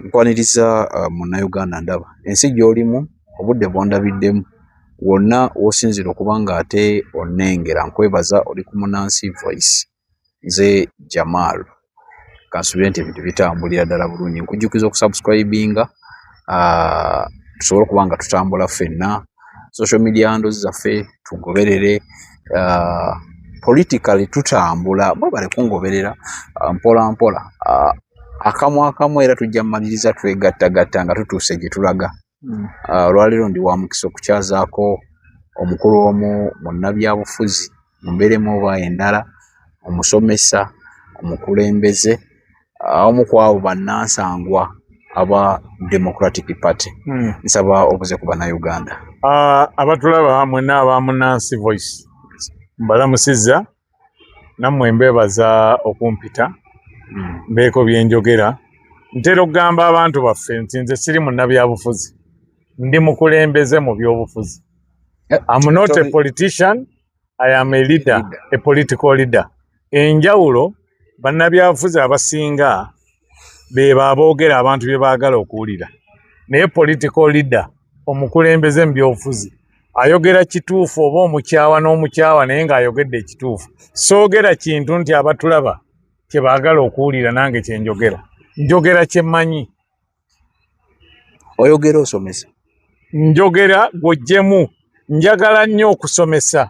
nkwaniriza uh, munnayuganda ndaba ensi gy'olimu obudde bwondabiddemu wonna wosinzira okuba nga ate onengera nkwebaza oli ku munansi voice nze jamal kansubire nti ebintu bitambulira ddala bulungi nkujjukiza okusubscribinga uh, tusobole okuba nga tutambula ffenna social media ndozi zaffe tugoberere uh, politically tutambula mwebale kungoberera uh, mpola mpola uh, akamu akamu era tujja mumaliriza twegattagatta nga tutuuse gye tulaga hmm. ah, olwaleero ndi wa mukisa okukyazaako omukulu omu munnabyabufuzi mumbeeremu oba endala omusomesa omukulembeze ah, omu ku abo bannansangwa aba democratic party hmm. nsaba obuze ku bannayuganda ah, abatulaba mwena abamunansi voice mbalamusizza nammwe mbeebaza okumpita mbeeko bye njogera ntera okugamba abantu baffe nti nze siri munnabyabufuzi ndi mukulembeze mu byobufuzi eh, am not a politician i am a leader a political leader enjawulo bannabyabufuzi abasinga beba aboogera abantu bye baagala okuwulira naye political leader omukulembeze mu byobufuzi ayogera kituufu oba omukyawa n'omukyawa naye ng'ayogedde ekituufu soogera kintu nti abatulaba kye baagala okuwulira nange kye njogera njogera kye mmanyi oyogera osomesa njogera gwojjemu njagala nnyo okusomesa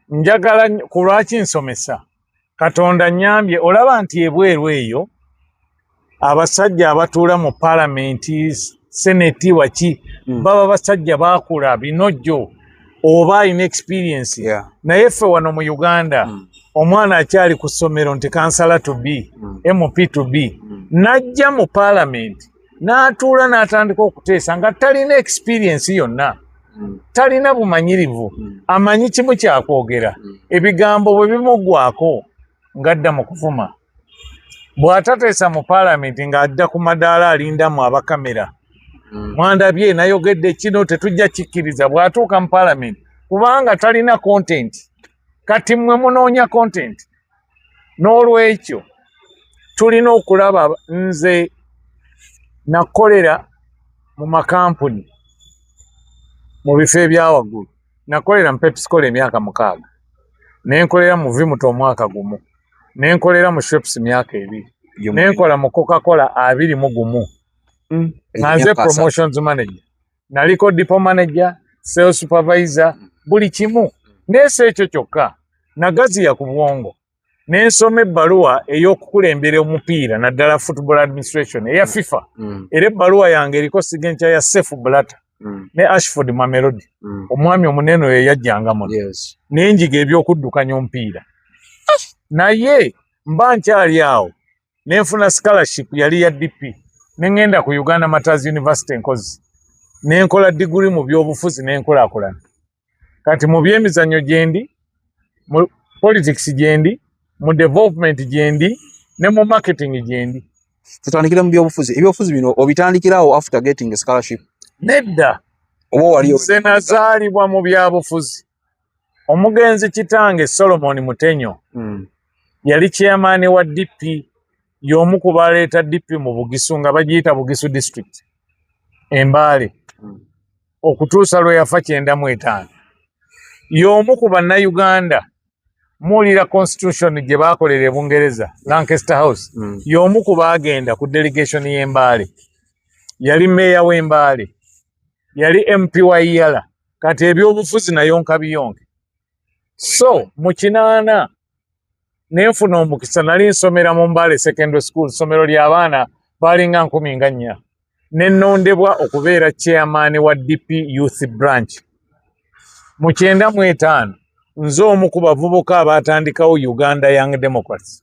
njagala ku lwaki nsomesa katonda nyambye olaba nti ebweru eyo abasajja abatuula mu palamenti seneti waki mm. baba basajja bakula binojjo oba alina experience yeah. naye ffe wano mu uganda mm. omwana akyali ku ssomero nti kansala to b mm. mp to b mm. najja mu palamenti n'atuula n'atandika okuteesa nga talina experiensi yonna mm. talina bumanyirivu mm. amanyi kimu kyakwogera mm. ebigambo bwe bimugwako ng'adda mu kuvuma bw'atateesa mu paalamenti ng'adda ku madaala alindamu abakamera mwandabye nayogedde kino tetujja kikkiriza bw'atuuka mu paalamenti kubanga talina kontenti kati mmwe munoonya kontenti n'olwekyo tulina okulaba nze nakolera mu makampuni mu bifo ebyawaggulu nakolera mu pepsicola emyaka mukaaga nenkolera mu vimuto omwaka gumu nenkolera mu shops myaka ebiri nenkola mu coca cola abiri mu gumu mm. nga nze promotions manager naliko depo manager sales supervisor buli kimu neesa ekyo kyokka nagaziya ku bwongo nensoma ebbaluwa ey'okukulembera omupiira naddala football administration eya mm. fifa mm. era ebbaluwa yange eriko sigenkya ya safe blata mm. ne ashford mamelodi mm. omwami omunene oyo yajjanga muno yes. nenjiga ebyokuddukanya omupiira naye mba nkyali awo ne nfuna scholarship yali ya DP ne ngenda ku Uganda Martyrs University nkozi ne nkola diguli mu byobufuzi ne nkulakulana kati mu byemizannyo gyendi mu politics gyendi mu development gyendi ne mu marketing gyendi tutandikira mu byobufuzi ebyobufuzi bino obitandikirawo after getting a scholarship nedda oba waliyo nze nazaalibwa mu byabufuzi omugenzi kitange solomon mutenyo mm. yali chairman wa dp y'omu ku baleeta dp mu bugisu nga bagiyita bugisu district embaale mm. okutuusa lwe yafa kyenda mu etaano y'omu ku bannayuganda muwulira constitution gye baakolera e bungereza lancaster house mm. y'omu ku baagenda ku delegation y'embaale yali meeya w'embaale yali mp wa yala kati ebyobufuzi nayonka biyonke so mu kinaana nenfuna omukisa nali nsomera mu mbaale secondary school somero lyabaana balinga nkumi nga nnya nenondebwa okubeera chairman wa dp youth branch mu kyenda mu etaano nze omu ku bavubuka abaatandikawo uganda young democracy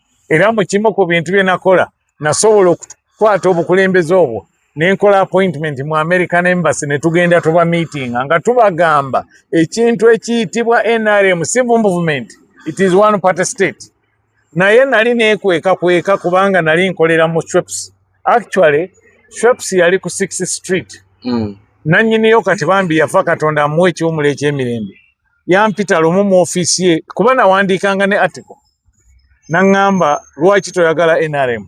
era mu kimu ku bintu bye nakola nasobola okukwata obukulembeze obwo nenkola appointment mu american embassy ne tugenda tuba meeting nga tubagamba ekintu ekiyitibwa nrm si movement it is one party state naye nali nekweka kweka kubanga nali nkolera mu shweps actually shweps yali ku six street mm. nanyiniyo kati bambi yafa katonda amuwa ekiwumulo ekyemirembe yampita lumu mu ofiisi ye kuba nawandiikanga ne article naŋŋamba lwaki toyagala nrm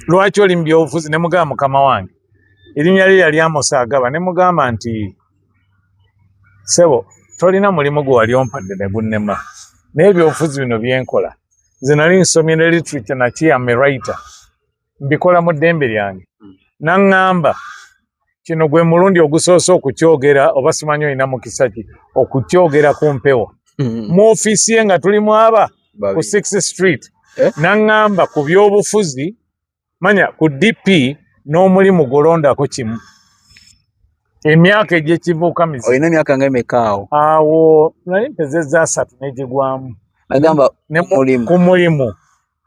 lwaki oli mu byobufuzi ne mugamba mukama wange erinnya lye yali amosa agaba ne mugamba nti sebo tolina mulimu gwe wali ompadde ne gunnema naye ebyobufuzi bino byenkola nze nali nsomye ne literature nakiyamerayita mbikola mu ddembe lyange hmm. naŋŋamba kino gwe mulundi ogusoose okukyogera oba simanyi olina mukisa ki okukyogera ku mpewo hmm. mu ofiisi ye nga tuli mwaba ku six street eh? naŋŋamba ku byobufuzi manya ku dp n'omulimu golondako kimu emyaka egyekivuuka mizi olina emyaka nga emeka awo awo nali mpezeza asatu negigwamu agamba ku mulimu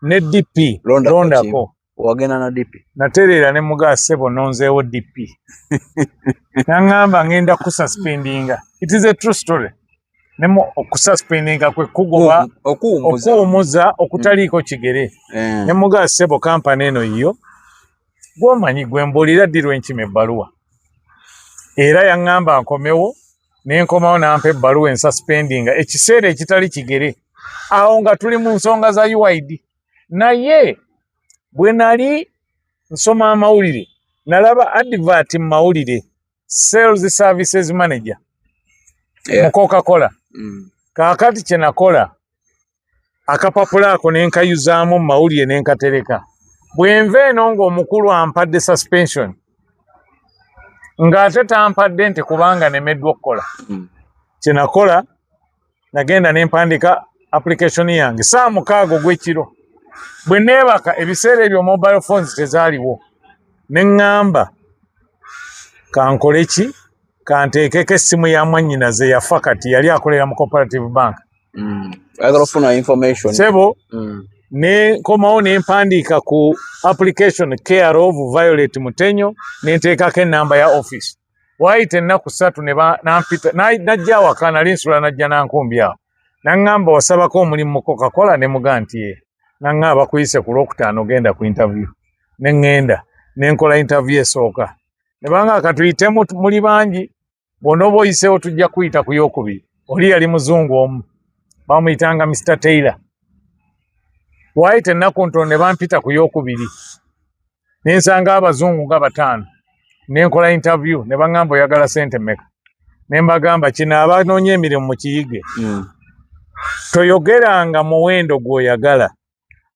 ne DP londako wagenda na DP natereera ne mugaa sebo nonzeewo DP nangamba ngenda kususpendinga it is a true story nemu okususpendinga kwe kugoba okuwumuza okutaliiko mm. kigere eh. ne mugaa sebo kampani eno yiyo gwomanyi gwembuulira ddirwa enkima ebbaluwa era yaŋŋamba nkomewo ne nkomawo nampa ebbaluwa ensuspendinga ekiseera ekitali kigere awo nga tuli mu nsonga za uid naye bwe nali nsoma amawulire nalaba advert mu mawulire sales services manager yeah. mu coca cola mm. kakati kyenakola akapapula ako ne nkayuzaamu mu mawulire ne nkatereka bwenva eno ng'omukulu ampadde suspension ng'ate tampadde nti kubanga nemeddwa okukola hmm. kyenakola nagenda ne mpandika application yange saa mukaaga ogw'ekiro bwe neebaka ebiseera ebyo mobile phones tezaaliwo ne ŋŋamba kankole ki kanteekeko essimu ya mwannyinaze yafa kati yali akolera mu cooperative bank mm. ayagala okufuna information sebo mm. nenkomawo nempandiika ku application care of violet mutenyo nenteekako enamba ya office waayita ennaku ssatu nampita najja awaka nali nsula najja nankumbi awo naŋŋamba wasabako omulimu mu cocacola ne muga nti ye naŋŋa abakuyise ku lwokutaano ogenda ku interview ne ŋŋenda ne nkola interview esooka ne banga katuyitemu muli bangi bw'onooba oyiseewo tujja kuyita ku yokubiri oli yali muzungu omu bamuyitanga mr taylor waayita ennaku ntono ne bampita ku yokubiri ne nsanga abazungu nga bataano ne nkola intavyu ne baŋŋamba oyagala sente meka ne mbagamba kino abanoonya emirimu mu kiyige hmm. toyogeranga muwendo gw'oyagala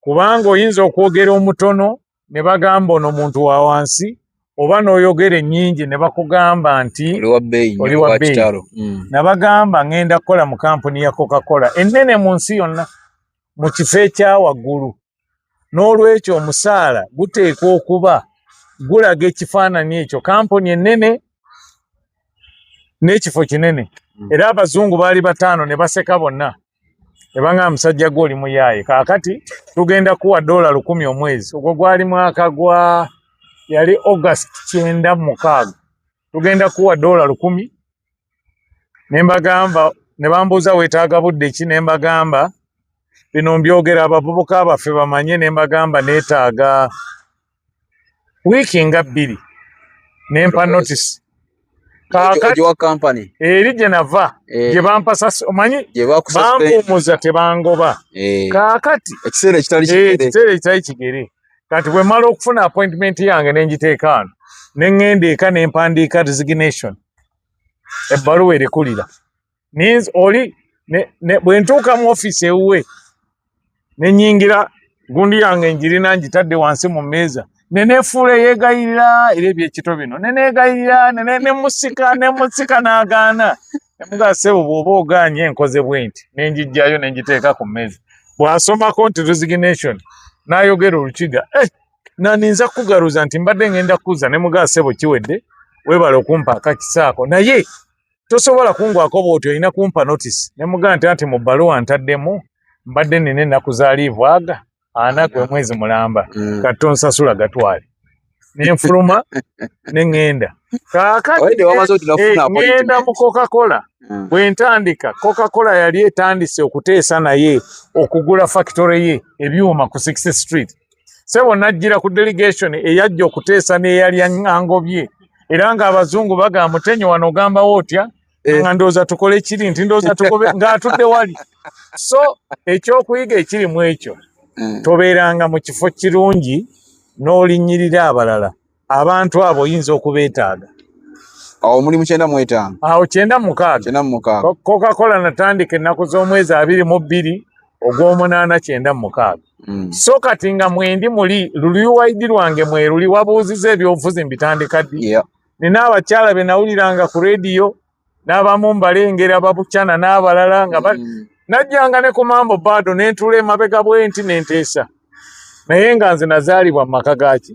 kubanga oyinza okwogera omutono ne bagamba ono muntu wa wansi oba n'oyogera ennyingi ne bakugamba nti oli wa bbeeyi mm. nabagamba ŋŋenda kukola mu kampuni ya coca cola ennene mu nsi yonna mu kifo ekya waggulu n'olwekyo omusaala guteekwa okuba gulaga ekifaananyi ekyo kampuni ennene n'ekifo kinene mm. era abazungu baali bataano ne baseka bonna ebanga musajja gwe oli muyaaye kaakati tugenda kuwa doola lukumi omwezi ogwo gwali mwaka gwa yali august kyenda mukaaga tugenda kuwa doola lukumi ne mbagamba ne bambuuza weetaaga budde ki ne mbagamba bino mbyogera abavubuka baffe bamanye ne mbagamba neetaaga wiiki nga bbiri ne mpa notisi kaakati eri gye nava eh. gye bampasasi omanyi bampumuza tebangoba eh. kaakati ekiseera ekitali eh, kigere kati bwe mala okufuna appointment yange ne ngiteeka ano ne ŋŋenda eka ne mpandiika resignation ebbaluwa erekulira ninze oli bwe ntuuka mu ofiisi ewuwe ne nyingira gundi yange njirina njitadde wansi mu mmeeza ne neefuula eyeegayirira era ebyekito bino ne neegayirira ne musika ne musika n'agaana ne mugaa sebo bw'oba ogaanye enkoze bwenti ne njijjayo ne njiteeka ku mmeeza bw'asomako nti resignation n'ayogera olukiga eh, naninza kugaruza nti mbadde ngenda kuza ne mugaa sebo kiwedde webale okumpa akakisaako naye tosobola kungwako bwoti olina kumpa notice nemugaa nti anti mu bbaluwa ntaddemu mbadde nina ennaku za liivu aga anaku emwezi mulamba mm. kati tonsasula gatwale nenfuluma neŋŋenda kakatiŋŋenda eh, mu cocacola mm. bwe ntandika cocacola yali etandise okuteesa naye okugula factory ye ebyuma ku 60 street sebo najjira ku delegation eyajja okuteesa n'eyali angobye era ng'abazungu bagamba mutenyo wano ogambawo otya eh. nga ndowooza tukole kiri nti ndowooza tukobe ng'atudde wali so ekyokuyiga ekiri mu ekyo eh. tobeeranga mu kifo kirungi n'olinnyirira abalala abantu abo oyinza okubeetaaga awo omulimu kyenda mu etaano awo kyenda mukaaga kyenda mu mukaaga kokakola natandika ennaku z'omwezi abiri mu bbiri ogw'omunaana kyenda mu mukaaga mm. so kati nga mwendi muli luliwaidi lwange mweruli wabuuziza ebyobufuzi mbitandika ddi nina abakyala be nawuliranga ku rediyo n'abamu mbalengera babucana n'abalala nga mm. najjanga ne ku mambo bado ne ntula emabega bwenti ne nteesa naye nga nze nazaalibwa mu maka gaaki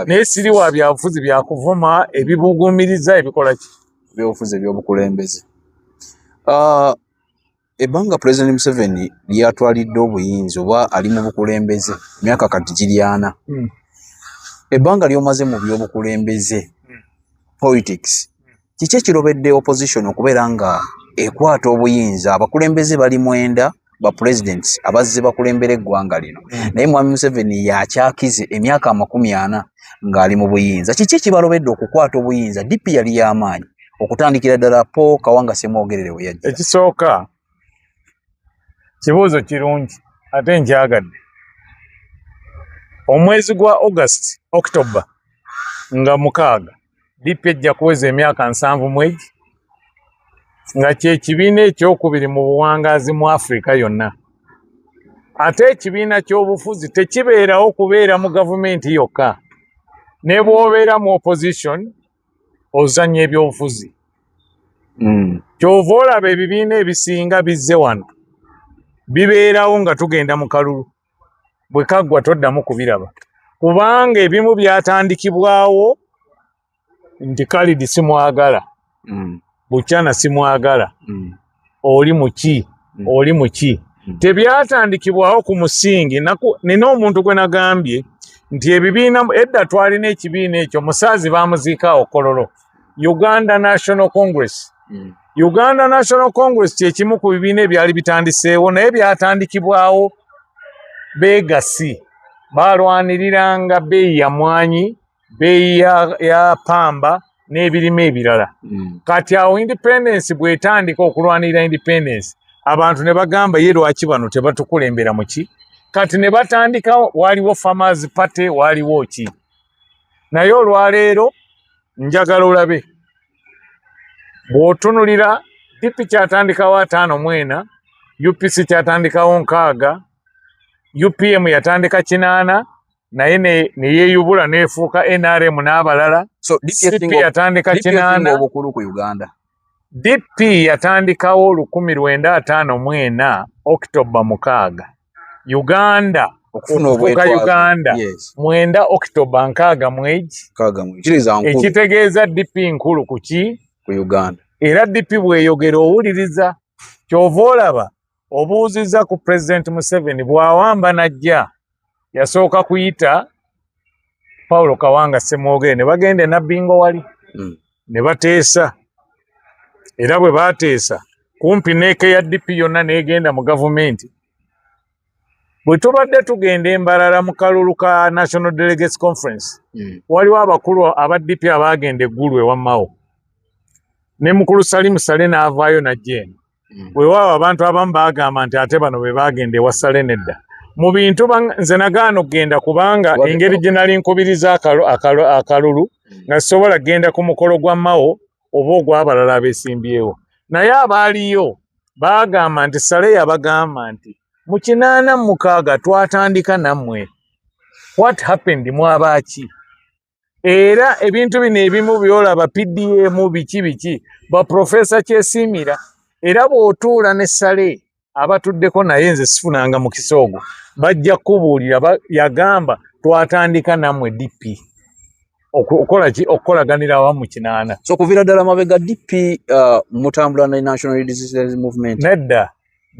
naye siri wa byabufuzi byakuvuma ebibugumiriza ebikola ki ebyobufuzi ebyobukulembeze ah, Ebbanga Pulezidenti Museveni lyatwalidde obuyinza oba ali mu bukulembeze myaka kati giri ana. Hmm. Ebbanga ly'omaze mu by'obukulembeze hmm. politics kiki ekirobedde opposition okubeera nga ekwata obuyinza abakulembeze bali mwenda ba president abazze bakulembera eggwanga lino hmm. naye mwami Museveni yakyakize emyaka amakumi ana ng'ali mu buyinza kiki ekibalobedde okukwata obuyinza dipi yali y'amaanyi okutandikira ddala po kawanga semwogerere we yajja ekisooka kibuuzo kirungi ate nkyagadde omwezi gwa august october nga mukaaga dipi ejja kuweza emyaka nsanvu mwegi nga kyekibiina ekyokubiri mu buwangaazi mu afrika yonna ate ekibiina ky'obufuzi tekibeerawo kubeera mu gavumenti yokka ne bwobeera mu opposition ozanya ebyobufuzi mm. kyova olaba ebibiina ebisinga bizze wano bibeerawo nga tugenda mu kalulu bwe kaggwa toddamu kubiraba kubanga ebimu byatandikibwawo nti kalidi simwagala mm. bukyana simwagala mm. oli muki mm. oli muki mm. tebyatandikibwawo ku musingi nina omuntu gwe nagambye nti ebibiina edda twalina ekibiina ekyo musaazi bamuziika okololo uganda national congress mm. uganda national congress kyekimu ku bibiina ebyali bitandiseewo naye byatandikibwawo begasi balwaniriranga beeyi yamwanyi beeyi ya, ya pamba n'ebirime ebirala mm. kati awo independence bwetandika okulwanirira independence abantu ne bagamba ye lwaki bano tebatukulembera muki kati ne batandika waliwo farmers party waliwo ki naye olwaleero njagala olabe bw'otunulira dp kyatandikawo ataano mwena upc kyatandikawo nkaaga upm yatandika kinaana naye ne yeeyubula neefuuka nrm n'abalala so dp yatandika kinaana obukulu ku uganda dp yatandikawo lukumi lwenda ataano mu ena okitoba mukaaga uganda okufuuka uganda mwenda okitoba nkaaga mwegi ekitegeeza dp nkulu kuki ku uganda era dp bweyogera owuliriza kyova olaba obuuzizza ku pulezidenti museveni bw'awamba n'ajja yasooka kuyita paulo kawanga ssemwogere ne bagenda enabbingo wali hmm. ne bateesa era bwe baateesa kumpi neeka ya dp yonna n'egenda mu gavumenti bwe tubadde tugenda embalala mu kalulu ka national delegates conference hmm. waliwo abakulu aba dp abaagenda eggulu ewammawo ne mukulu salimu sale n'avaayo najja eno mm. wewaawo abantu abamu bagamba nti ate bano be bagenda ewasale nedda mu bintu nze nagaana okugenda kubanga engeri gye nali nkubiriza akalulu mm. nga sisobola kugenda ku mukolo gwa mawo oba ogwabalala abesimbyewo naye abaaliyo bagamba nti sale yabagamba nti mu kinaana mukaaga twatandika nammwe what happened mwabaaki era ebintu bino ebimu byolaba pdm biki biki baprofesa kyesiimira era bw'otuula ne sale abatuddeko naye nze sifunanga mukisa ogwo bajja kukubuulira yagamba twatandika nammwe dp okukola ki okukolaganira awamu kinaana so kuvira ddala mabega dp uh, mutambula ne national resistance movement nedda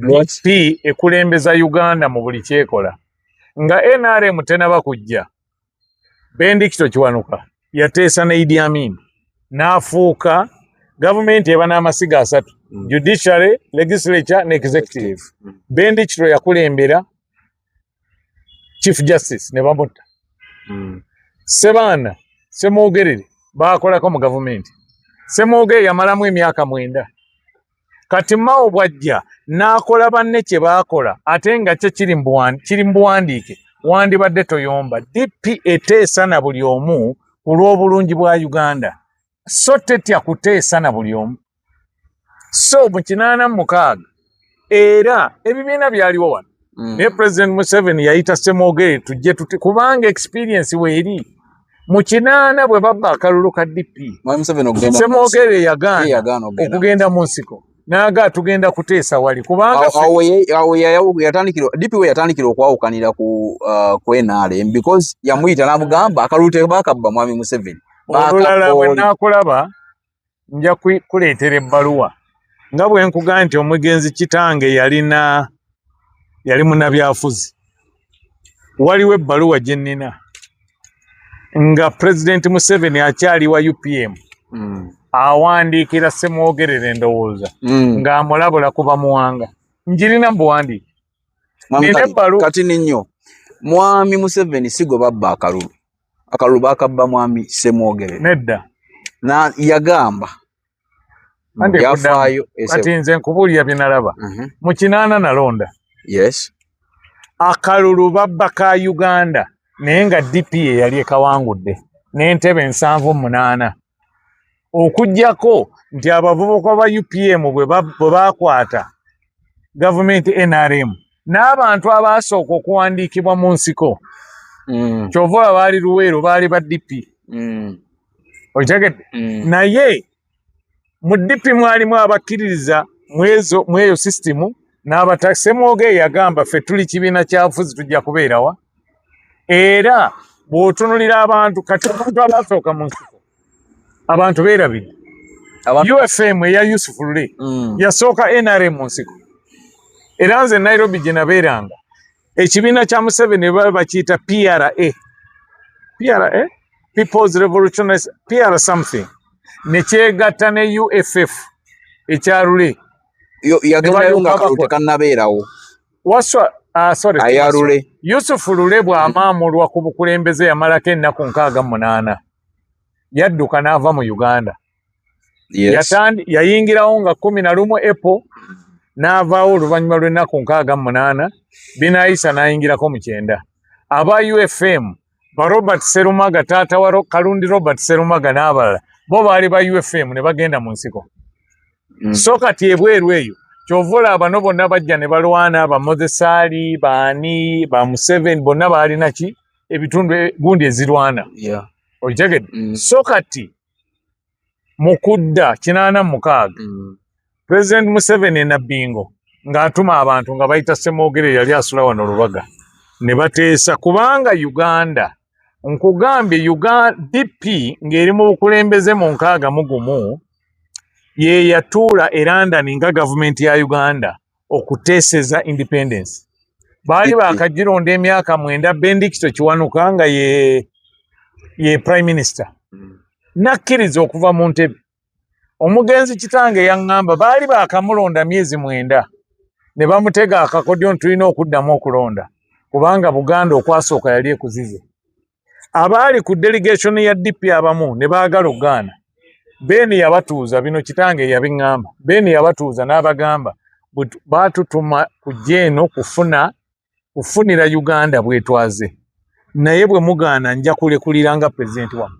dp ekulembeza uganda mu buli kyekola nga nrm tenaba kujja Bendikito Kiwanuka yateesa ne Idi Amin n'afuuka gavumenti eba n'amasiga asatu mm. judiciary legislature ne executive mm. Bendikito yakulembera chief justice ne bamutta mm. Sebaana Semwogerere baakolako mu gavumenti Semwogerere yamalamu emyaka mwenda kati mawo bwajja n'akola banne kye baakola ate nga kyo kiri mu buwandiike wandibadde toyomba dp eteesa na buli omu ku lw'obulungi bwa uganda so tetya kuteesa na buli omu so mu kinaana mu mukaaga era ebibiina byaliwo wano mm. naye president museveni yayita semogere tujje tuti kubanga experience weeri mu kinaana bwe babba akalulu ka dp semogere yagaana okugenda mu nsiko naga tugenda kuteesa wali kubanga yatandikira dp we yatandikira okwawukanira ku uh, ku nrm because yamuyita namugamba akalulu tebakabba mwami museveni olulala bwe nakulaba nja kuleetera ebbaluwa nga bwe nkugamba nti omugenzi kitange yalina yali munabyafuzi waliwo ebbaluwa gye nnina nga pulezidenti museveni akyali wa upm mm. awandiikira semwogerera endowooza mm. ng'amulabula kuba muwanga njirina mubuwandiike nina ebbaluwa kati ninyo mwami museveni sigwe babba akalulu akalulu bakabba mwami semwogere nedda na yagamba yafaayo kati nze nkubuulira bye nalaba mhm. mu kinaana nalonda yes akalulu babba ka uganda naye nga dp ye yali ekawangudde n'entebe nsanvu munaana okugyako nti abavubuka ba upm bwe bakwata gavumenti nrm n'abantu abaasooka okuwandiikibwa mu nsiko mm. kyova oba baali luweero baali ba dp mm. okitegedde mm. naye mu dp mwalimu abakkiririza mweyo sisitimu n'abatasemwoga eyagamba ffe tuli kibiina kyabufuzi tujja kubeerawa era bwotunulira abantu kati abantu abasooka mu nsiko abantu beerabidde ufm eya yusufu lule mm. yasooka nrm mu nsiko era nze nairobi gye nabeeranga ekibiina kya museveni baba bakiyita pra pra peoples revolutionary pra something nekyegatta ne uff ekyalule yagerayo nga tekannabeerawo Waswa Ah, sorry, ayalule Yusufu Lule bw'amaamulwa ku bukulembeze yamalako ennaku nkaaga munaana yadduka n'ava mu Uganda yes. yayingirawo nga kumi na lumu epo n'avaawo oluvannyuma lw'ennaku nkaaga munaana binaayisa n'ayingirako mu kyenda aba UFM ba Robert Serumaga taata wa Kalundi Robert Serumaga n'abalala bo baali ba UFM ne bagenda mu nsiko mm. so kati ebweru eyo kyova olaba bano bonna bajja ne balwana ba Mozesaali baani ba Museveni bonna baalina ki ebitundu e, gundi ezirwana yeah. okitegedde mm. so kati mu kudda kinaana mukaaga mm. pulezidenti museveni e nabbingo ng'atuma abantu nga bayita semwogere yali asula wano lubaga ne bateesa kubanga uganda nkugambye uganda dp ng'eri mu bukulembeze mu nkaaga mu gumu ye yatuula e london nga gavumenti ya uganda okuteseza independence baali bakagironda emyaka mwenda bendikito kiwanuka nga ye ye prime minister mm. nakkiriza okuva mu ntebe omugenzi kitange yaŋŋamba baali baakamulonda myezi mwenda ne bamutega akakodyo nti tulina okuddamu okulonda kubanga buganda okwasooka yali ekuzize abaali ku delegation ya DP abamu ne baagala okugaana Ben yabatuuza bino kitange yabiŋŋamba Ben yabatuuza n'abagamba baatutuma kujja eno kufuna kufunira Uganda bwetwaze naye bwe mugaana nja kulekulira nga pulezidenti wamu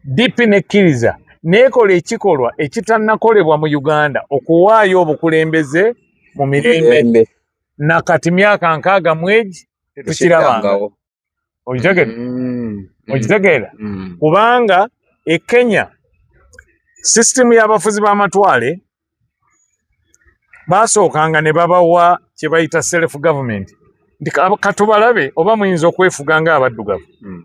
DP nekkiriza neekola ekikolwa ekitannakolebwa mu Uganda okuwaayo obukulembeze mu mirembe na kati myaka nkaaga mwegi tetukirabanga okitegere mm. okitegeera mm. mm. kubanga e kenya sisitemu y'abafuzi b'amatwale baasookanga ne babawa kye bayita self government nti katubalabe oba muyinza okwefuga nga abaddugavu mm.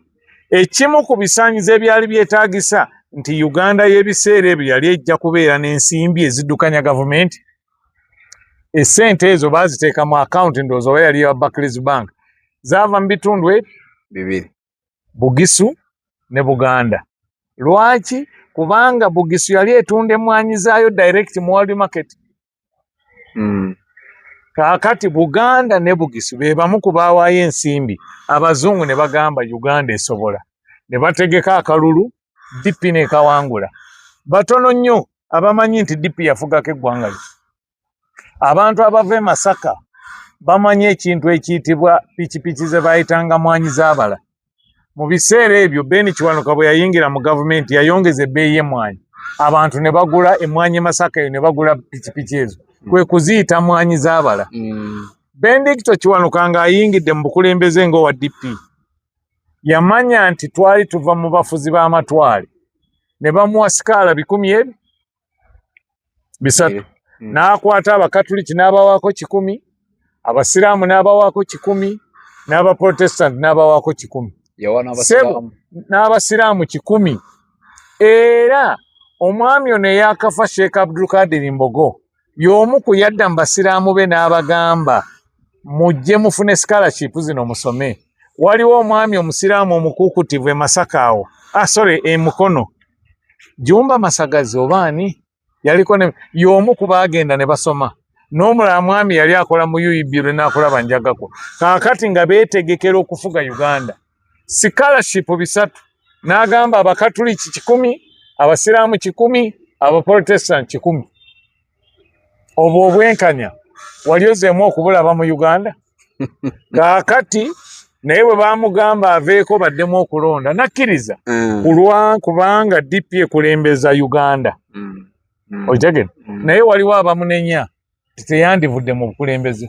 ekimu ku bisaanyizo ebyali byetaagisa nti uganda y'ebiseera ebyo yali ejja kubeera n'ensimbi eziddukanya gavumenti esente ezo baziteeka mu akawunti ndowooza oba yali ewa Barclays Bank zaava mu bitundu e bibiri Bugisu ne Buganda. Lwaki? Kubanga Bugisu yali etunda emmwanyi zaayo direct mu world market. Mm. Kaakati Buganda ne Bugisu be bamu ku baawaayo ensimbi abazungu ne bagamba Uganda esobola ne bategeka akalulu DP n'ekawangula. Batono nnyo abamanyi nti DP yafugako eggwanga lye. Abantu abava e Masaka bamanyi ekintu ekiyitibwa pikipiki ze baayitanga mwanyi z'abala. Mu biseera ebyo Ben Kiwanuka bwe yayingira mu gavumenti yayongeza ebbeeyi y'emmwanyi abantu ne bagula emmwanyi e Masaka eyo ne bagula pikipiki ezo hmm. kwe kuziyita mwanyi z'abala. Hmm. Bendicto Kiwanuka ng'ayingidde mu bukulembeze ng'owa DP. yamanya nti twali tuva mu bafuzi b'amatwale ne bamuwa sikaala bikumi ebi bisatu eh, hmm. n'akwata abakatuliki n'abawaako kikumi abasiraamu n'abawaako kikumi n'abaprotestanti n'abawaako kikumi sebo n'abasiraamu kikumi era omwami ono eyakafa sheekh abdulkadiri mbogo y'omu ku yadda mu basiraamu be n'abagamba mujje mufune scholarship zino musome waliwo omwami omusiraamu omukuukutivu e masaka awo ah, sorry e mukono jumba masagazi oba ani yaliko ne y'omu ku baagenda ne basoma n'omulala mwami yali akola mu uib lwe naakulaba njagako kaakati nga beetegekera okufuga uganda sikalashipu bisatu n'agamba abakatuliki kikumi abasiraamu kikumi abaprotestant kikumi obwo obwenkanya wali ozeemu okubulaba mu uganda kaakati naye bwe bamugamba aveeko baddemu okulonda nakkiriza mm. kulwa kubanga dp ekulembeza uganda mm. Mm. okitegere naye waliwo abamunenya teyandivudde mu bukulembeze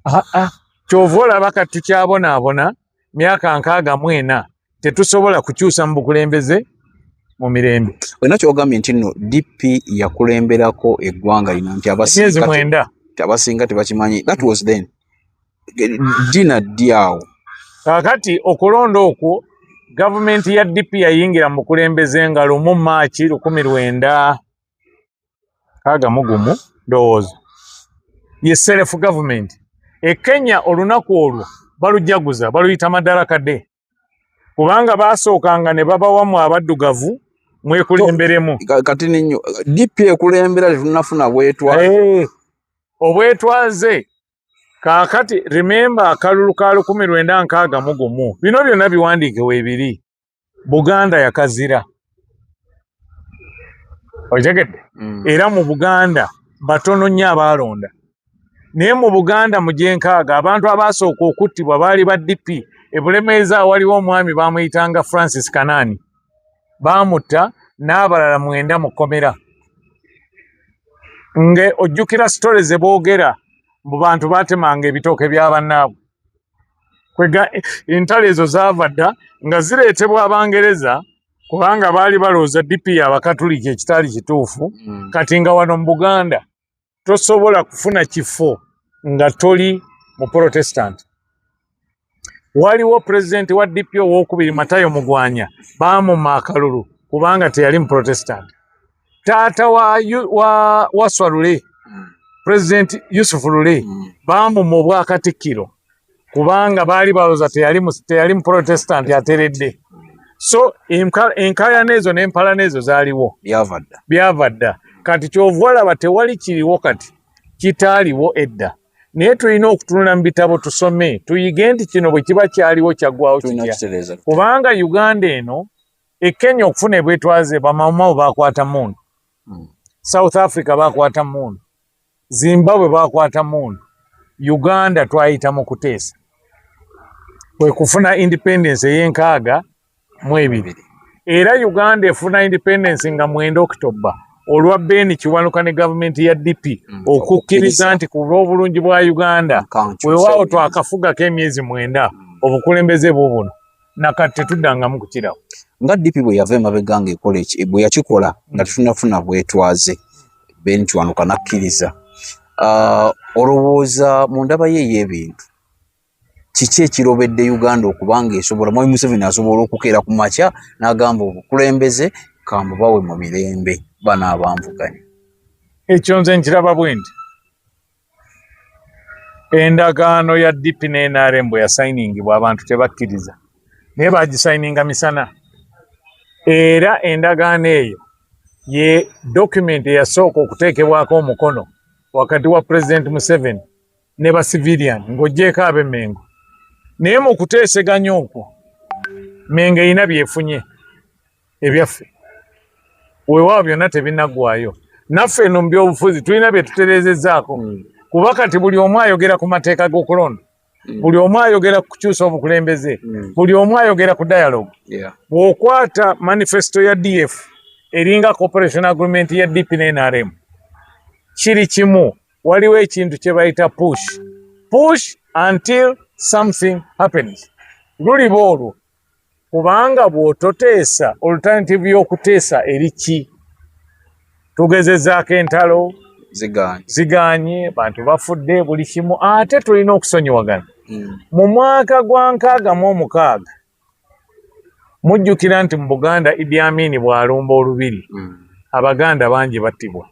ah, ah. kyova olaba kati tukyabonaabona myaka nkaaga mu ena tetusobola kukyusa mu bukulembeze mu mirembe olina kyogambye nti nno dp yakulemberako eggwanga lino nti abasiezi mwenda nti abasinga tebakimanyi that was then dina ddi awo kakati okulonda okwo gavumenti ya dp yayingira mu bukulembeze nga lumu maaki lukumi lwenda kaga mugumu ndowooza ye self government e kenya olunaku olwo balujaguza baluyita madaraka de kubanga basookanga ne babawamu abaddugavu mwekulemberemu kati ninyo dp ekulembera tetunafuna bwetwaze hey, eh, obwetwaze kakati remember akalulu ka lukumi lwenda nkaaga mugumu bino byonna biwandiike webiri buganda yakazira okitegedde mm. era mu buganda batono nnyo abaalonda naye mu buganda mu gyenkaaga abantu abaasooka okuttibwa baali ba dp ebulemeeza waliwo omwami baamuyitanga francis kanaani baamutta n'abalala mwenda mu kkomera nga ojjukira sitole ze boogera mbu bantu baatemanga ebitooke bya bannaabwe kwega entalo ezo zaava dda nga zireetebwa abangereza kubanga baali balowooza dipi ya bakatuliki ekitaali kituufu mm. kati nga wano mu buganda tosobola kufuna kifo nga toli mu protestant waliwo pulezidenti wa dp owokubiri matayo mugwanya baamuma akalulu kubanga teyali mu protestant taata wa, wa, wa swalule mm. president yusufu lule mm. bamuma obwakatikkiro kubanga baali baloza teyali muprotestant ateredde so enkayana ezo nempalana ezo zaliwo byava dda kati kyovalaba tewali kiriwo kati kitaaliwo edda naye tulina okutunula mu bitabo tusome tuyige nti kino bwe kiba kyaliwo kyaggwawo kitya kubanga uganda eno e Kenya okufuna ebwetwaze bamawumawo bakwata mundu hmm. South Africa bakwata mundu Zimbabwe bakwata mundu Uganda twayita mu kuteesa kwe kufuna independence ey'enkaaga mu ebiri era Uganda efuna independence nga mwenda October olwa Ben Kiwanuka ne gavumenti ya DP hmm. okukkiriza nti ku lw'obulungi bwa Uganda wewaawo twakafuga k'emyezi mwenda hmm. obukulembeze bubuno nakati tetuddangamu kukirawo nga dipi bwe yava emabega nga ekola eki bwe yakikola nga hmm. tetunafuna bwetwaze bentwanuka nakkiriza ah, olowooza mu ndaba ye ey'ebintu kiki ekirobedde uganda okubanga esobola mwami museveni asobola okukeera ku makya n'agamba obukulembeze kambubawe mu mirembe bano abanvuganya ekyo nze nkiraba bwendi endagaano ya DP ne NRM bwe yasayiningibwa abantu tebakkiriza naye baagisayininga misana era endagaano eyo ye dokumenti eyasooka okuteekebwako omukono wakati wa pulezidenti Museveni ne ba civilian ng'oggyeeko ab'e Mengo naye mu kuteeseganya okwo Mengo erina byefunye ebyaffe weewaawo byonna tebinaggwayo naffe eno mu byobufuzi tulina bye tutereezezaako mm. kuba kati buli omu ayogera ku mateeka g'okulonda mm. buli omu ayogera ku kukyusa obukulembeze mm. buli omu ayogera ku dialogue bw'okwata manifesto ya df eringa cooperation agreement ya dp ne nrm kiri kimu waliwo ekintu kye bayita push push until something happens luliba olwo kubanga bw'ototeesa oluternativu y'okuteesa eri ki tugezezaako entalo ziganye bantu bafudde buli kimu ate tulina okusonyiwagana hmm. mu mwaka gwa nkaaga mu omukaaga mujjukira nti mu buganda idi amini bw'alumba olubiri hmm. abaganda bangi battibwa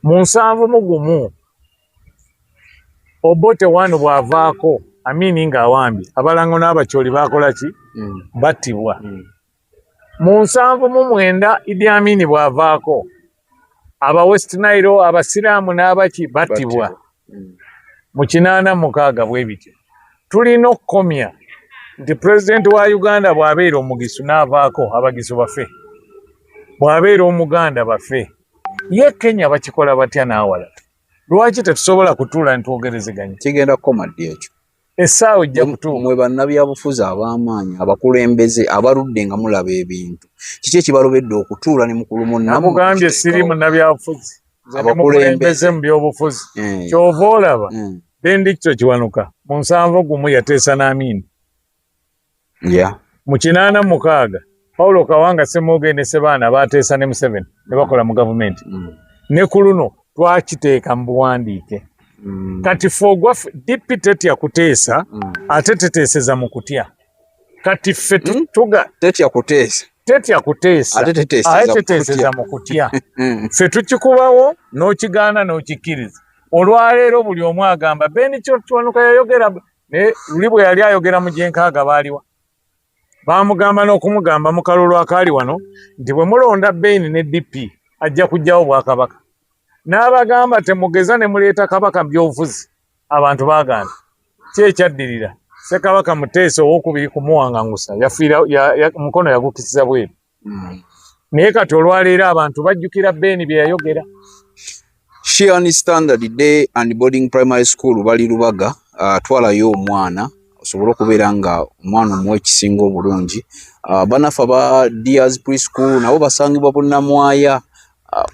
mu nsanvu mu gumu obote wano bwavaako amini nga awambye abalango n'abakyoli bakola ki mm. battibwa mm. mu nsanvu mu mwenda idi amini bwavaako aba west nile abasiraamu n'abaki battibwa mm. mu kinaana mukaaga bwe bityo tulina okukomya nti pulezidenti wa uganda bw'abeera omugisu n'avaako abagisu bafe bw'abeera omuganda bafe ye kenya bakikola batya n'awalala lwaki tetusobola kutuula netwogerezeganya kigenda kukoma ddi ekyo essaawa ojja kutuuka mwe bannabyabufuzi ab'amaanyi abakulembeze abaludde nga mulaba ebintu kiki ekibalobedde okutuula ne mukulu munnamugambye siri munnabyabufuzi abakulembeze mu byobufuzi eh. kyova olaba eh. bendikito kiwanuka mu nsanvu gumu yateesa n'amiini yeah. mu kinaana mukaaga paulo kawanga semooge ne sebaana baateesa ne museveni ne bakola mu gavumenti mm. ne ku luno twakiteeka mu buwandiike mm. kati fe ogwaffe dp tetya kuteesa mm. ate teteeseza mu kutya kati ffe hmm? tuga tetya kuteesa tetya kuteesa ate teteeseza mu kutya hmm. ffe tukikubawo n'okigaana n'okikkiriza olwaleero buli omu agamba beni kyokiwanuka yayogera naye luli bwe yali ayogera mu gyenkaaga baaliwa baamugamba n'okumugamba mu kalulu akaali wano nti bwe mulonda beini ne dp ajja kujjawo bwakabaka n'abagamba temugeza ne muleeta kabaka byobufuzi abantu baagaana ki ekyaddirira ssekabaka muteesa owokubiri kumuwangangusa yafiira mukono yagukisiza bweru naye kati olwaleero abantu bajjukira beeni bye yayogera shean standard day and boarding primary school bali lubaga uh, twalayo omwana osobole okubeera nga omwana omuwa ekisinga obulungi uh, banafe aba dears preschool nabo basangibwa bunamwaya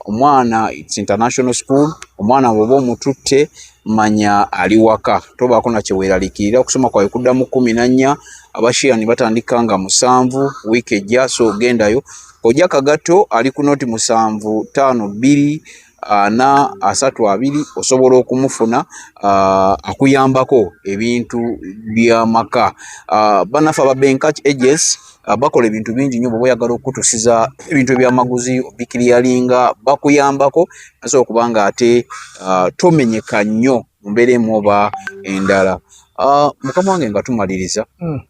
omwana it's international school omwana bwoba omututte manya ali waka tobaako nakyeweeralikirira okusoma kwawe kudda mu kumi nannya abashiya ne batandika nga musanvu wiiki ejja so ogendayo ojja kagatto ali ku noti musanvu taano bbiri ana asatu abiri osobola okumufuna uh, akuyambako ebintu byamaka uh, banafe ababenka ages Ah, bakola ebintu bingi nyo bwoba oyagala okutusiza ebintu ebyamaguzi obikiliyalinga bakuyambako nasobola okubanga ate ah, tomenyeka nnyo mumbeera emu oba endala ah, mukama wange nga tumaliriza hmm.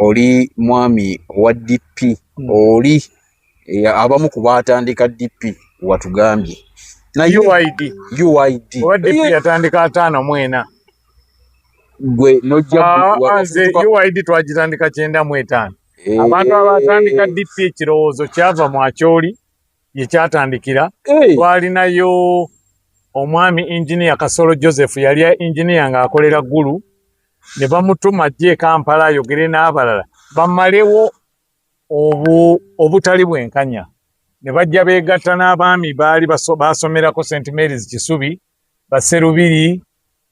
oli mwami wa dp hmm. oli eh, abamu ku baatandika DP watugambye naye UID UID oba DP eh. yatandika ataano mu ena gwe nojja ah, ah, nze UID twagitandika kyenda mu etaano eh. abantu abatandika DP ekirowoozo kyava mu akyoli ye kyatandikira twalinayo omwami engineer Kasolo Joseph yali engineer ng'akolera Gulu ne bamutuma ajje e Kampala ayogere n'abalala bamalewo obu obutali bwenkanya ne bajja beegatta n'abaami baali baasomerako st marys kisubi baserubiri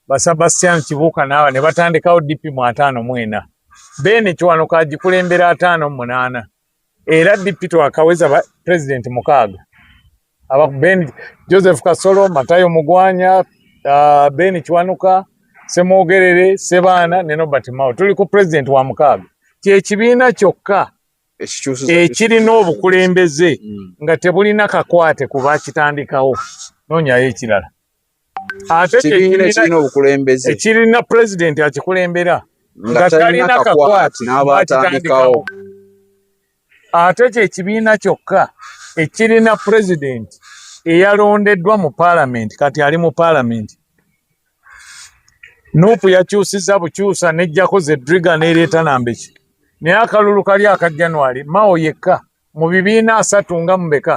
basabastian kibuuka naawa ne batandikawo dp mu ataano mu ena beene kiwanuka agikulembera ataano mu munaana era dp twakaweza pulezidenti mukaaga aba ku bendi joseph kasolo matayo mugwanya uh, ben kiwanuka semwogerere sebaana ne nobert mao tuli ku president wa mukaaga kyekibiina kyokka ekirina obukulembeze mm. nga tebulina kakwate ku bakitandikawo nonyayo ekirala ate ekibiina ekirina obukulembeze ekirina pulezidenti akikulembera nga talina kakwati n'abatandikawo ate kye kibiina kyokka ekirina pulezidenti eyalondeddwa mu paalamenti kati ali mu paalamenti nuupu yakyusiza bukyusa nejjako ze driga nereeta nambeki naye akalulu kali aka january mao yekka mu bibiina asatu nga mubeka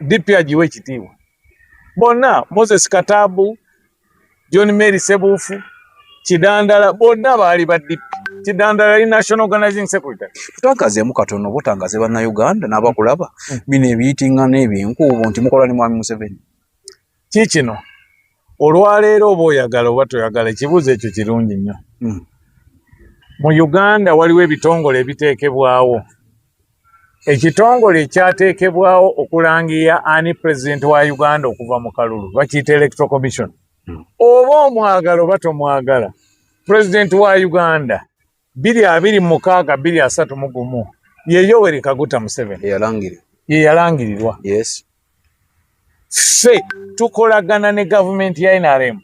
DP agiwe ekitiibwa bonna, Moses Katabu, John Mary Sebuufu, Kidandala bonna baali ba DP. Kidandala ali National Organizing Secretary. Tutangazeemu katono butangaze bannayuganda n'abakulaba mm. bino ebiyitingana ebyenkuubo nti mukola ne Mwami Museveni. kiikino olwaleero oba oyagala oba toyagala ekibuuzo ekyo kirungi nnyo hmm. mu uganda waliwo ebitongole ebiteekebwawo ekitongole ekyateekebwawo okulangiya ani pulezidenti wa uganda okuva mu kalulu bakiyita electro commission hmm. oba omwagala oba tomwagala pulezidenti wa uganda biri abiri mukaaga biri asatu mu gumu ye Yoweri Kaguta Museveni ye yalangirirwa ffe tukolagana ne gavumenti ya NRM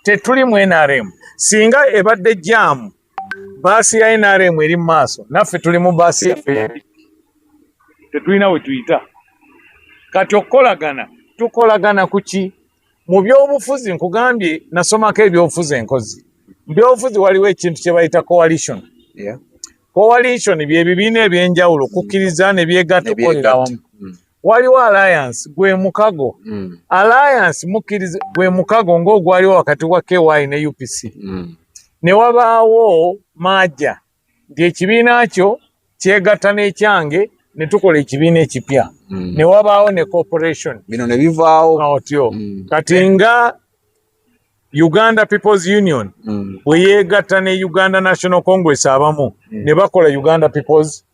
tetuli mu NRM singa ebadde jaamu baasi ya NRM eri mu maaso naffe tuli mu baasi yaffe tetulina we tuyita kati okukolagana tukolagana ku ki mu byobufuzi nkugambye nasomako ebyobufuzi enkozi mu byobufuzi waliwo ekintu kye bayita coalition yeah. coalition byebibiina ebyenjawulo kukkiriza ne byegatta okukolera wamu mm. waliwo alliance gwe mukago mm. alliance mukkiriza gwe mukago ng'ogwaliwo wakati wa ky ne upc mm. ne wabaawo maaja nti ekibiina kyo kyegatta n'ekyange ne tukola ekibiina ekipya mm. ne wabaawo ne corporation bino ne bivaawo otyo mm. kati nga uganda peoples union mm. bwe mm. yeegatta ne uganda national congress abamu mm. ne bakola uganda peoples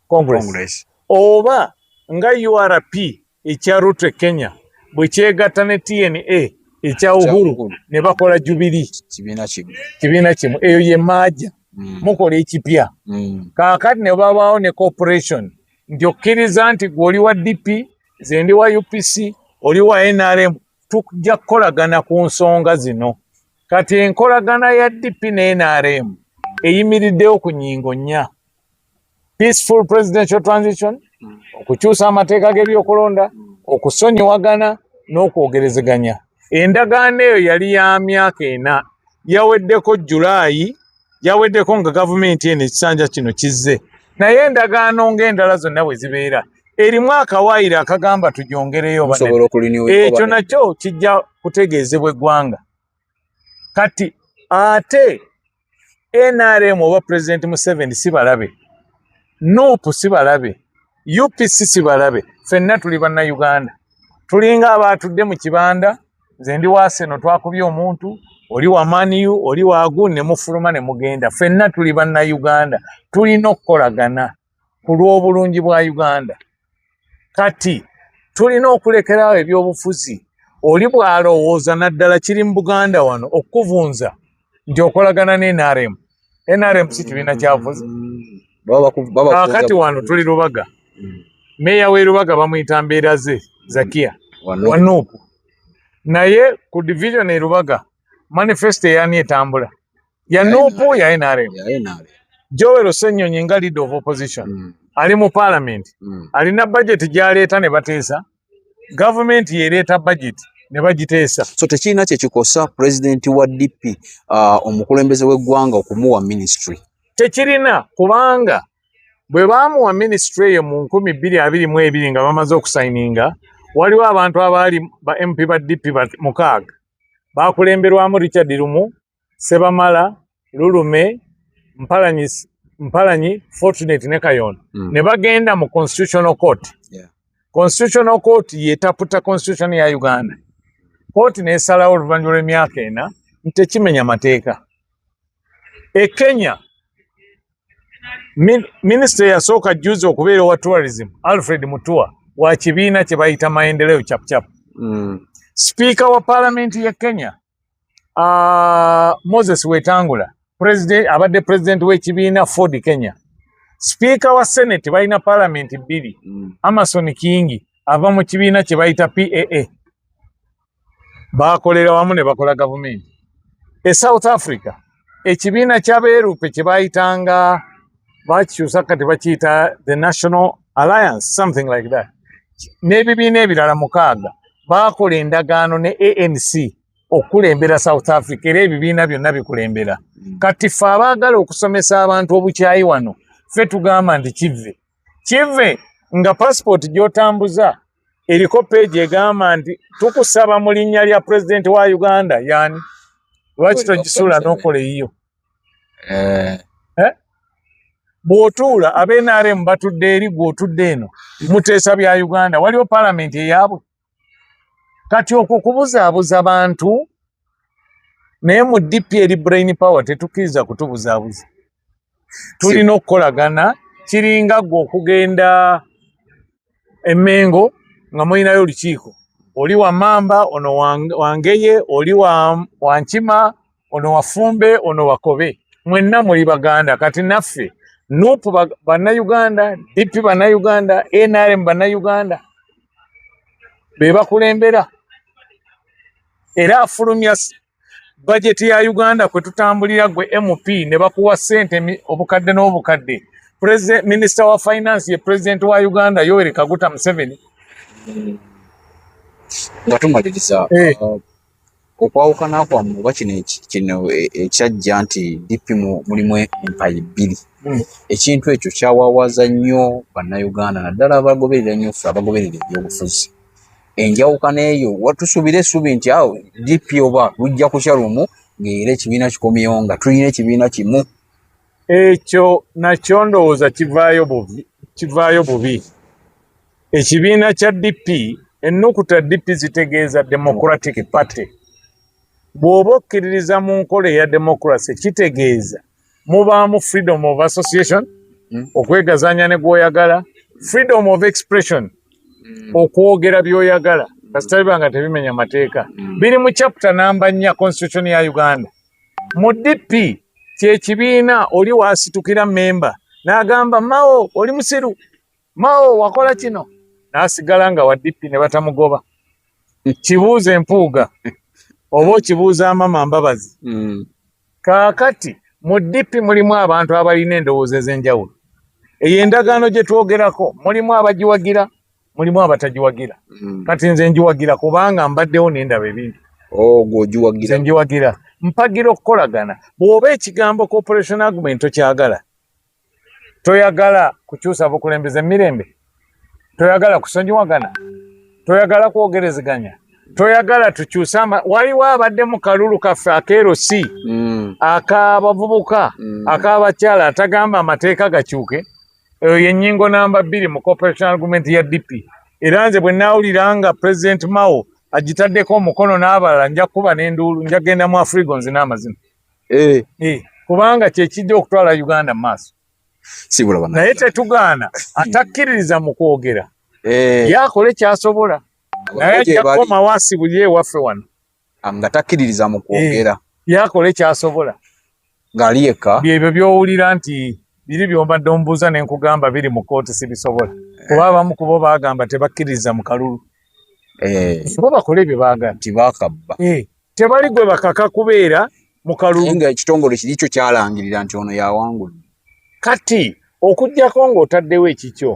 congress, congress. oba nga urp ekya Ruto Kenya bwe kyegatta ne TNA ekya Uhuru ne bakola jubili kibiina kimu kibiina kimu eyo ye maaja mm. mukola ekipya mm. kaakati ne babaawo ne corporation nti okkiriza nti gwe oli wa DP ze ndi wa UPC oli wa NRM tujja kukolagana ku nsonga zino kati enkolagana ya DP ne NRM eyimiriddewo ku nyingo nnya peaceful presidential transition mm. okukyusa amateeka g'ebyokulonda mm. okusonyiwagana n'okwogerezeganya endagaano eyo yali ya myaka ena yaweddeko julaayi yaweddeko nga gavumenti eno ekisanja kino kizze naye endagaano ng'endala zonna bwe zibeera erimu akawaayiro akagamba tujongereyo ekyo nakyo kijja kutegeezebwa eggwanga kati ate nrm oba president museveni si balabe nup si balabe upc si balabe fenna tuli bannauganda tulinga abaatudde mu kibanda nze ndi waaseno twakubye omuntu oli wa maniu oli wagu ne mufuluma ne mugenda fenna tuli bannauganda tulina okukolagana ku lw'obulungi bwa Uganda. Kati tulina okulekerawo ebyobufuzi oli bw'alowooza naddala kiri mu Buganda wano okukuvunza nti okolagana ne NRM. NRM si kibiina kyavuzi. Kati wano tuli Lubaga. Meeya w'e Lubaga bamuyita mbeera ze Zakia Wanuupu. Naye ku division e Lubaga manifesto eyani etambula. ya nupu ya NRM Joel Ssenyonyi nga leader of opposition mm. ali mu parliament mm. alina budget gyaleeta ne bateesa government yereeta budget ne bagiteesa so tekirina kyekikosa president wa DP uh, omukulembeze w'eggwanga okumuwa ministry tekirina kubanga bwe baamuwa minisitule eyo mu nkumi bbiri abiri mu ebiri nga bamaze okusayininga waliwo abantu abaali ba mp ba dp mukaaga baakulemberwamu richard lumu Sebamala, Lulume, Mpalanyi, Mpalanyi Fortunate ne Kayondo mm. ne bagenda mu Constitutional Court. Yeah. Constitutional Court yetaputa Constitution ya Uganda. Court nesalawo oluvannyuma lw'emyaka ena nti tekimenya mateeka. E Kenya min, minisita yasooka juzi okubeera owa tourism Alfred Mutua wa kibiina kye bayita maendeleo chapchap. Mm. Sipiika wa palamenti ya Kenya uh, moses wetangula president abadde president w'ekibiina ford kenya sipiika wa senate balina palamenti bbiri mm. amason kingi ava mu kibiina kye bayita paa bakolera wamu ne bakola gavumenti e south africa ekibiina ky'abeerupe kye baayitanga bakikyusa kati bakiyita the national alliance something like that n'ebibiina ebirala mukaaga baakola endagaano ne anc okukulembera south africa era ebibiina byonna bikulembera mm. kati ffe abaagala okusomesa abantu obukyayi wano ffe tugamba nti kive kive nga passport gyotambuza eriko peegi egamba nti tukusaba mu linnya lya pulezidenti wa uganda yani lwaki togisuula n'okola eyiyo eh. eh? bw'otuula abnrm batudde eri gw'otudde eno muteesa bya uganda waliwo palamenti eyaabwe kati okwo kubuzaabuza bantu naye mu dp eri brain power tetukkiriza kutubuzaabuza tulina okukolagana kiringa gwe okugenda emengo nga mulinayo olukiiko oli wa mamba ono wangeye oli wankima ono wafumbe ono wakobe mwenna muli baganda kati naffe nup bannayuganda dp bannayuganda nrm bannayuganda be bakulembera era afulumya bajeti ya uganda kwe tutambulira gwe mp ne bakuwa sente obukadde n'obukadde president minister wa finance ye president wa uganda yoweri kaguta museveni nga tumaliriza eh. uh, okwawukana kwammwe oba kino kino e, ekyajja nti dp mulimu empayi bbiri hmm. ekintu ekyo kyawawaza nnyo bannayuganda naddala abagoberera nnyo ffe abagoberera ebyobufuzi enjawukana eyo watusubira esubi nti awo dp oba lujja kukya lumu ngaera ekibiina kikomyewo nga tulina ekibiina kimu ekyo nakyo ndowooza kivaayo bubi kivaayo bubi ekibiina kya dp ennukuta dp zitegeeza democratic party bw'oba okkiririza mu nkola eya democracy kitegeeza mubaamu freedom of association mm. okwegazanya ne gwoyagala freedom of expression mm. okwogera byoyagala kasitaliba nga tebimenya mateeka mm. biri mu chapter namba nnya constitution ya uganda mu dp kyekibiina oli wasitukira memba nagamba mawo oli musiru Mao wakola kino n'asigala nga wa DP ne batamugoba. Kibuuza empuuga oba okibuuza amama Mbabazi. Mm. Kaakati mu DP mulimu abantu abalina endowooza ez'enjawulo. Eyo endagaano gye twogerako mulimu abagiwagira, mulimu abatagiwagira. Mm. Kati nze ngiwagira kubanga mbaddewo ne ndaba ebintu. Ogwo oh, ogiwagira? Nze ngiwagira. Mpagira okukolagana. Bw'oba ekigambo cooperation agreement tokyagala, toyagala kukyusa bukulembeze emirembe toyagala kusonyiwagana toyagala kwogerezeganya toyagala tukyuse waliwo abadde mu kalulu kaffe akeero si mm. akabavubuka mm. akabakyala atagamba amateeka gakyuke eyo yenyingo namba bbiri mu corporation argument ya dp era nze bwe nawulira nga president mao agitaddeko omukono n'abalala nja kukuba n'enduulu njagenda mu afrigo nzina amazina eh. Eh, kubanga kyekijja okutwala uganda mu maaso naye tetugaana atakkiririza mu kwogera eh. yakole kyasobola naye ajja kukomawo asibulye ewaffe wano ah, nga takkiririza mu kwogera yakole kyasobola ng'ali yekka byebyo byowulira nti biri byombadde omubuuza ne nkugamba biri mu kkooti sibisobola kuba abamu kubo baagamba tebakkiririza mu kalulu bo bakole bye baagala tibakabba tebali gwe bakaka kubeera mu kalulu nga ekitongole kiri kyo kyalangirira nti ono yawangula kati okujjako ng'otaddewo ekikyo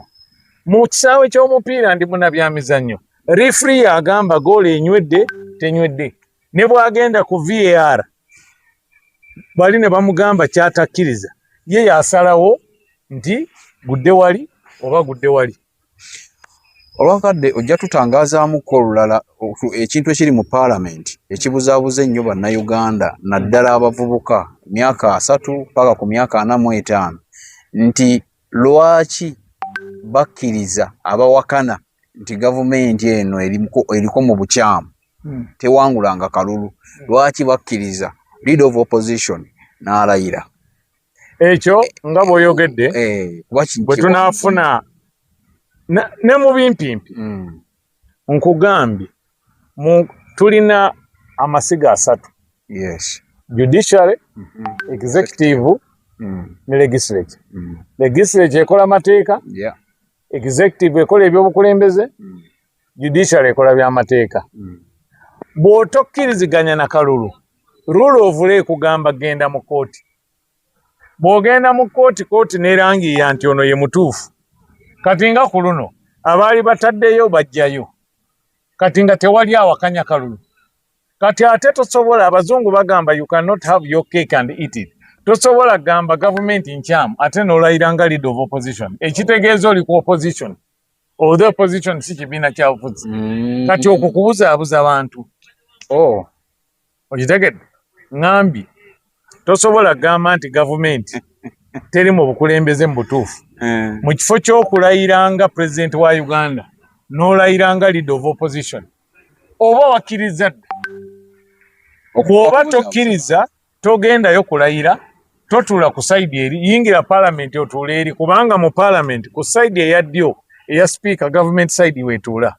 mu kisaawe ky'omupiira ndi munabyamizannyo refri agamba goolo enywedde tenywedde ne bwagenda ku var bali ne bamugamba kyatakkiriza ye yasalawo nti gudde wali oba gudde wali olwakadde ojja tutangazaamuko olulala ekintu ekiri mu paalamenti ekibuzaabuza ennyo bannayuganda naddala abavubuka myaka asatu paka ku myaka ana mu etaano nti lwaki bakkiriza abawakana nti gavumenti eno eriko mu bukyamu hmm. tewangulanga kalulu hmm. lwaki bakkiriza lead of opposition n'alayira ekyo nga bwoyogedde eh, bwe tunaafuna ne mu bimpimpi hmm. nkugambye tulina amasiga asatu judiciary mhm. executive hmm. ne legislature hmm. legislature ekola mateeka executive ekola ebyobukulembeze judiciary ekola byamateeka hmm. bw'otokkiriziganya na kalulu rule of law ekugamba genda mu kooti bw'ogenda mu kooti kooti nerangiiya nti ono ye mutuufu kati nga ku luno abaali bataddeyo bajjayo kati nga tewali awakanya kalulu kati ate tosobola abazungu bagamba you cannot have your cake and eat it tosobola gamba gavumenti nkyamu ate nolayira nga lead of opposition ekitegeeza oli ku opposition Oh, the opposition si kibiina kyabufuzi mm. kati okwo kubuzaabuza abantu oh. okitegedde ŋambi tosobola gamba nti gavumenti teri mu bukulembeze mu butuufu eh. mu kifo ky'okulayira nga pulezidenti wa uganda n'olayira nga leader of opposition oba wakkiriza dda oba tokkiriza togendayo kulayira totuula ku saidi eri yingira palamenti otuula eri kubanga mu palamenti ku saidi eya ddyo eya sipiika gavumenti saidi wetuula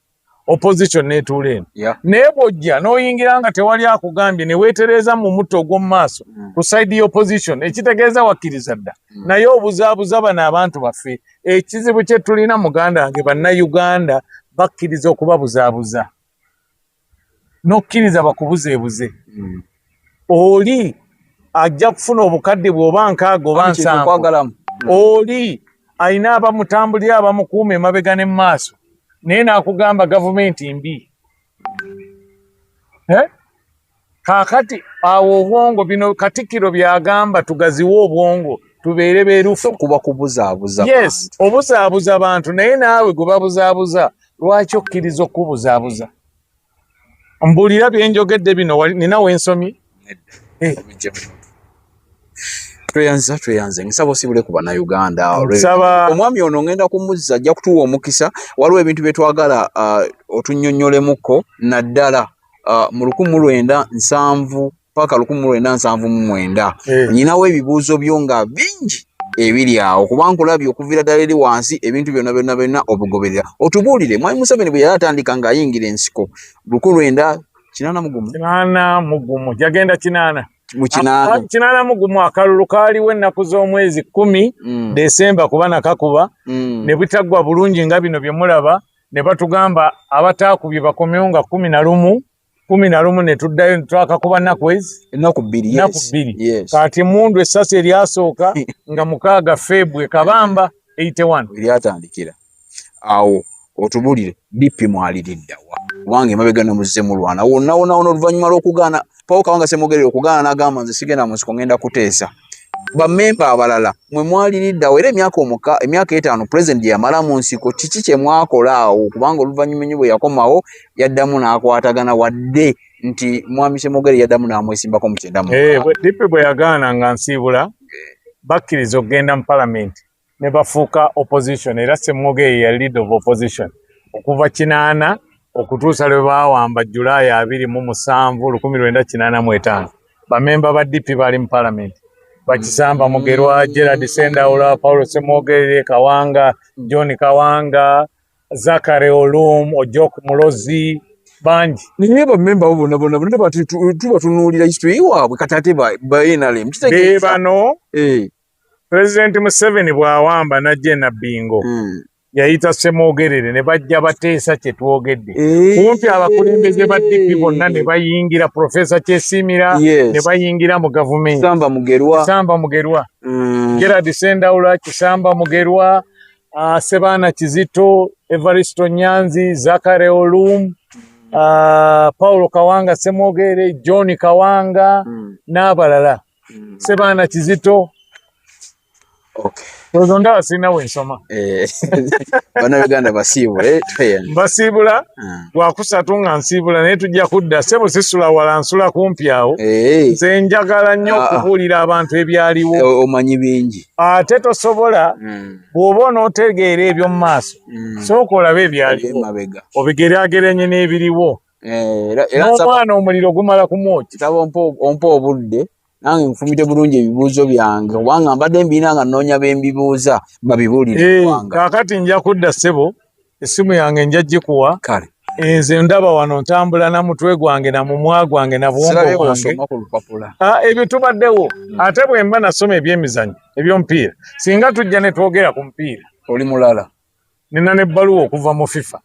opposition netuula eno yeah. naye bwojja noyingira nga tewali akugambye newetereeza mu mutto ogw'omu maaso mm. ku saidi ya opposition ekitegeeza wakkiriza dda mm. naye obuzaabuza bano abantu baffe ekizibu kyetulina muganda wange bannayuganda bakkiriza okubabuzaabuza n'okkiriza bakubuzeebuze hmm. oli ajja kufuna obukadde bwoba nkaaga oba nsanvu oli alina abamutambulira abamukuuma emabega ne mumaaso naye n'akugamba gavumenti mbi eh? kakati awo obwongo bino katikiro byagamba tugaziwe obwongo tubeere berufu kuba kubuzaabuza yes obuzaabuza bantu naye naawe gwe babuzaabuza lwaki okkiriza okukubuzaabuza mbulira byenjogedde bino nina wensomye eh. tweyanziza tweyanze nsaba osibule ku bannayuganda omwami ono ngenda kumuzza ajja kutuwa omukisa waliwo ebintu bye twagala uh, otunyonyolemuko naddala uh, mu lukumu lwenda nsanvu paka lukumu lwenda nsanvu mu mwenda eh. nyinawo ebibuuzo byo nga bingi ebiri awo kuba nkulabye okuviira ddala eri wansi ebintu byonna byonna byonna obugoberera otubuulire mwami museveni bwe yali atandika ng'ayingira ensiko lukulu enda kinaana mugumu kinaana mugumu jagenda kinaana mukinaana mugumu akalulu kaaliwo ennaku z'omwezi kumi mm. desemba kuba nakakuba mm. ne butaggwa bulungi nga bino bye mulaba ne batugamba abataakubye bakomewo nga kumi na lumu kumi na lumu ne tuddayo ne twakakuba nnaku ezi ennaku bbiri nnaku bbiri kati emundu essasi eryasooka nga mukaaga febwe kabamba eite wano eryatandikira awo otubulire bippi mwaliriddawa kubanga emabega nomuzze mulwana wonawonawona oluvannyuma lw'okugaana pawo kawanga semogerere okugaana n'agamba nze sigenda mu nsiko ngenda kuteesa bamemba abalala mwe mwali liddawo era emyaka omuka emyaka etaano pulezidenti gyeyamala mu nsiko kiki kye mwakola awo kubanga oluvannyuma ennyo bwe yakomawo yaddamu n'akwatagana wadde nti mwami semogere yaddamu n'amwesimbako mu kyenda mu eh, dipi bwe yagaana nga nsiibula bakkiriza okugenda mu palamenti ne bafuuka opposition era semmoga eyo ya lead of opposition okuva kinaana okutuusa lwe baawamba julayi abiri mu musanvu lukumi lwenda kinaana mu etaano bamemba ba dp baali mu palamenti bakisamba mugerwa gerard sendaula paulo semogere kawanga john kawanga zakare olum ojok mulozi bangi naye bamemba bo bona bona bona bati tuba tunuulira history waabwe kati ate ba nrm bebano eh. Pulezidenti Museveni bw'awamba n'ajja e Nabbingo hmm. yayita Ssemwogerere ne bajja bateesa kye twogedde eh. kumpi abakulembeze ba DP bonna ne bayingira Profesa Kyesiimira ne bayingira mu gavumenti Kisamba Mugerwa Kisamba Mugerwa hmm. Gerard Sendawula Kisamba Mugerwa ah, Sebaana Kizito Evaristo Nyanzi Zakare Olum ah, Paulo Kawanga Ssemwogerere John Kawanga hmm. n'abalala mm. sebaana kizito ozo ndaba sirina wensoma eh, banauganda basiibula eh, mbasiibula hmm. lwakusatu nga nsiibula naye tujja kudda sebo sisula wala nsula kumpi awo eh. nze njagala nnyo ah, ah. okubuulira abantu ebyaliwo eh, omanyi bingi ate tosobola hmm. bw'oba onootegeera ebyomu maaso hmm. sooka olabe ebyaliwo obigeraagerenye n'ebiriwo Eh, n'omwana omuliro gumala kumwoki kitaba ompa obudde nange nfumite bulungi ebibuuzo byange kubanga mbadde mbiina nga nnoonya bembibuuza babibuulirkakati eh, nja kudda ssebo essimu yange nja gikuwa kale enze eh, ndaba wano ntambula na mutwe gwange na mumwa gwange na bwongo bwange ah, ebyo tubaddewo hmm. ate bwe mba nasoma ebyemizanyo ebyomupiira singa tujja ne twogera ku mupiira oli mulala nina n'ebbaluwa okuva mu fifa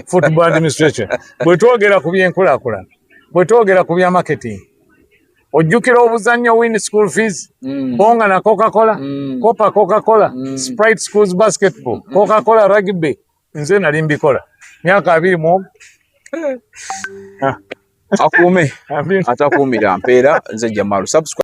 football administration bwe twogera ku byenkulaakulana bwe twogera ku bya marketing ojjukira obuzannyo win school fees mm. bonga na coca cola mm. copa coca cola mm. sprite schools basketball mm. coca cola rugby nze nali mbikola myaka abiri mu akuume atakuumira mpeera nze jamalu